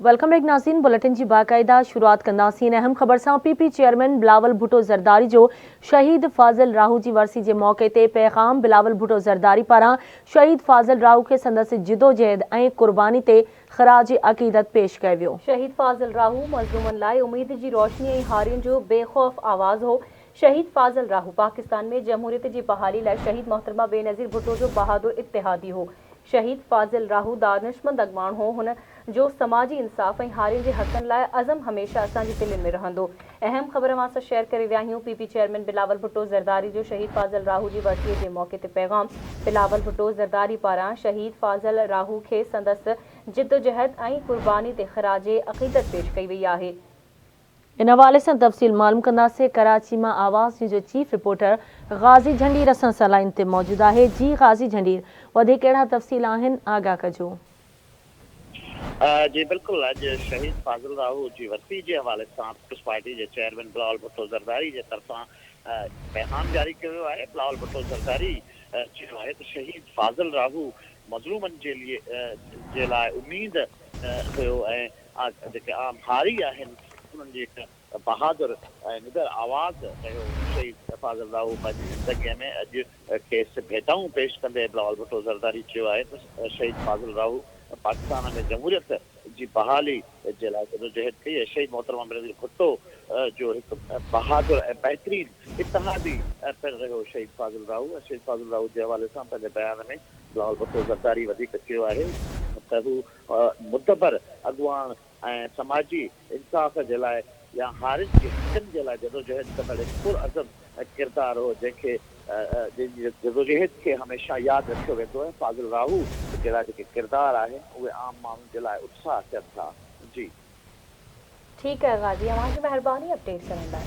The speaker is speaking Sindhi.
ويلڪم بيڪ ناظرين بليٽن جي باقاعده شروعات ڪنداسين اهم خبر سان P P chairman Bilawal Bhutto Zardari جو شهيد فاضل راهو جي ورسي جي موقعي تي پيغام بلاول ڀٽو زرداري پاران شهيد فاضل راهو کي سندس جدوجهد ۽ قرباني تي خراج عقيدت پيش ڪيو ويو. شهيد فاضل راهو مظلومن لاء اميد جي روشني ۽ هارين جو بي خوف آواز هو شهيد فاضل راهو پاڪستان ۾ جمهوريت جي بحالي لاء شهيد محترمه بينظير ڀٽو جو بهادر اتحادي هو. شهيد فاضل راهو دانشمند اڳواڻ هو. هن جو سماجي انصاف ۽ هارين جي حقن لاء عزم هميشه اسان جي دلين ۾ رهندو. اهم خبر اوهان سان شيئر ڪري رهيا آهيون، P P chairman Bilawal Bhutto Zardari جو شهيد فاضل راهو جي ورسيء جي موقعي تي پيغام، بلاول ڀٽو زرداري پاران شهيد فاضل راهو کي سندس جدوجهد ۽ قرباني تي خراج عقيدت پيش ڪئي وئي آهي. ان حوالي سان تفصيل معلوم ڪنداسين ڪراچي مان آواز نيوز جو چيف رپورٽر غازي جھنڊير اسان سان لائين تي موجود آھي جي غازي جھنڊير وڌيڪ ڪهڙا تفصيل آھن آگاھ ڪجو. جي بلڪل اڄ شھيد فاضل راھو جي ورسي جي حوالي سان پيپلز پارٽي جي چيئرمين بلاول ڀٽو زرداري جي طرفان پيغام جاري ڪيو ويو آھي بلاول ڀٽو زرداري چيو آھي ته شھيد فاضل راھو مظلومن جي لئي جي لاء اميد ھيو ۽ جيڪي عام هاري آهن، انهن جي هڪ بهادر ۽ نڏر آواز رهيو شهيد فاضل راهو پنهنجي زندگيء ۾ اڄ کيس ڀيٽائون پيش ڪندي بلاول ڀٽو زرداري چيو آهي ته شهيد فاضل راهو پاڪستان ۾ جمهوريت جي بحالي جي لاء جدوجهد ڪئي ۽ شهيد محترمه بينظير ڀٽو جو هڪ بهادر ۽ بهترين اتحادي پڻ رهيو شهيد فاضل راهو ۽ شهيد فاضل راهو جي حوالي سان پنهنجي بيان ۾ بلاول ڀٽو زرداري وڌيڪ چيو آهي ته هو معتبر اڳواڻ ۽ سماجي انصاف جي لاء يا هارين جي حقن جي لاء جدوجهد ڪندڙ هڪ پرعزم ڪردار هو جنهن کي جنهن جي جدوجهد کي هميشه ياد رکيو ويندو ۽ فاضل راهو جهڙا جيڪي ڪردار آهن اهي عام ماڻهن جي لاء اتساهه ٿين ٿا جي. ٺيڪ آهي غازي اوهان جي مهرباني اپڊيٽ ڪرڻ لاء.